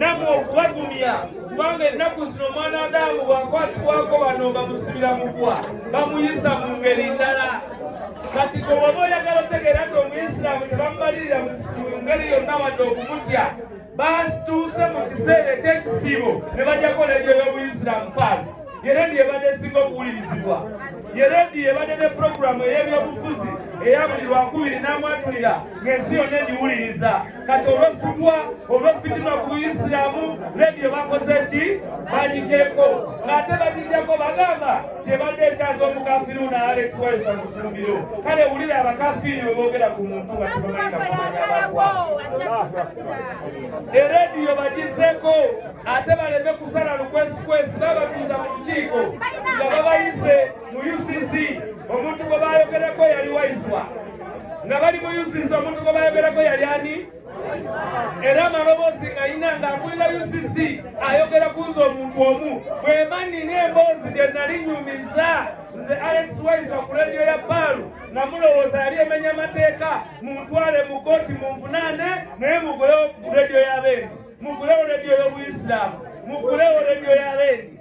namwe okubagumya kubanga ennaku zino omwana adaamu bwakwatibwako bano bamusibira mugwa bamuyisa mu ngeri ndala kati gwe waba oyagala otegeera nti omuyisiraamu tebamubalirira mu ngeri yonna wadde okumutya batuuse mu kiseera ekyekisiibo ne bajjako leediyo y'obuyisiraamu paali ye leediyo ebadde esinga okuwulirizibwa ye leediyo ebadde ne pulogulaamu ey'ebyobufuzi eya buli lwakubiri n'amwatulira ng'ensi yonna egiwuliriza kati olwefutwa olwefitima ku buyisiramu rediyo bakoze ki balijeko ng'ate bagijako bagamba gyebadde ekyaza omukafiru naalesiwayisa mufumbiro kale wulire abakafiiri bwe boogera ku muntu nga tebamanyi nakumanya abagwa erediyo bagizeko ate baleme kusala lukwesikwesi babatuuza mu lukiiko nga babayise mu UCC omuntu gwe baayogerako yali Waiswa nga bali mu UCC omuntu gwe baayogerako yali ani era amaloboozi nga yina nga akulira UCC ayogera ku nze omuntu omu bwema nina emboozi gye nali nyumiza nze Alex Waiswa ku lediyo ya Paalu namulowooza yali emenya amateeka muntwale mu kooti munvunaane naye mugulewo ku lediyo ya Bendi mugulewo lediyo y'Obuyisiraamu mugulewo lediyo ya Bendi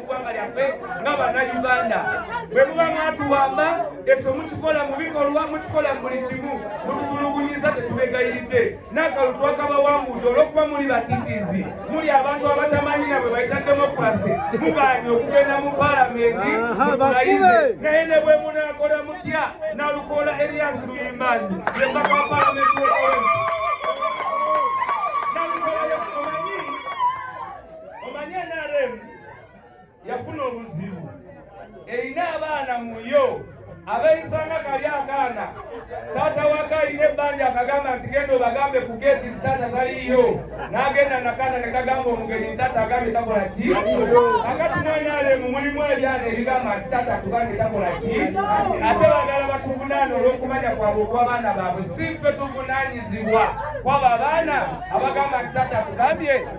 eggwanga lyaffe nga bannayuganda bwe muba mwatuwamba ekyo mukikola mu bikolwa mukikola mu buli kimu mututulugunyiza tetubegayiridde n'akalu twakabawangudde olw'okuba muli batitizi muli abantu abatamanyi nabwe bayita demokrasi mugaanye okugenda mu palamenti mutulayize naye ne bwe munaakola mutya nalukoola erias luyimbazi yembaka wa palamenti yafuna obuzibu erina abaana muyo abeeyisanga kali akaana taata waka alina ebbanja akagamba nti genda obagambe ku geeti nti taata taliiyo n'agenda nakaana ne kagamba omugenyi nti taata agambye takola ki akati mwenaleemu mulimu ebyana ebigamba nti taata tugambe takola ki ate bagala batuvunaana olw'okumanya kwabwe okw'abaana baabwe si ffe tuvunaanyizibwa kwabo abaana abagamba nti taata tugambye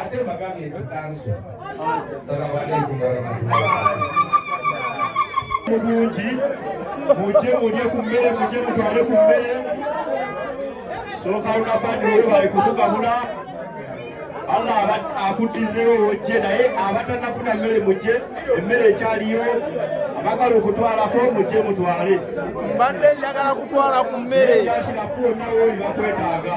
ate mbagambye nti kanso salamu aleikum warahmatullahi mujje mulye ku mmere mujje mutwale ku mmere sokauna badi oyo bali kutugabula allah akuddizeewo ojje naye abatanafuna mmere mujje emmere ekyaliyo abagala okutwalako mujje mutwale mbadde njagala kutwala ku mmere yakirafu onawooli bakwetaaga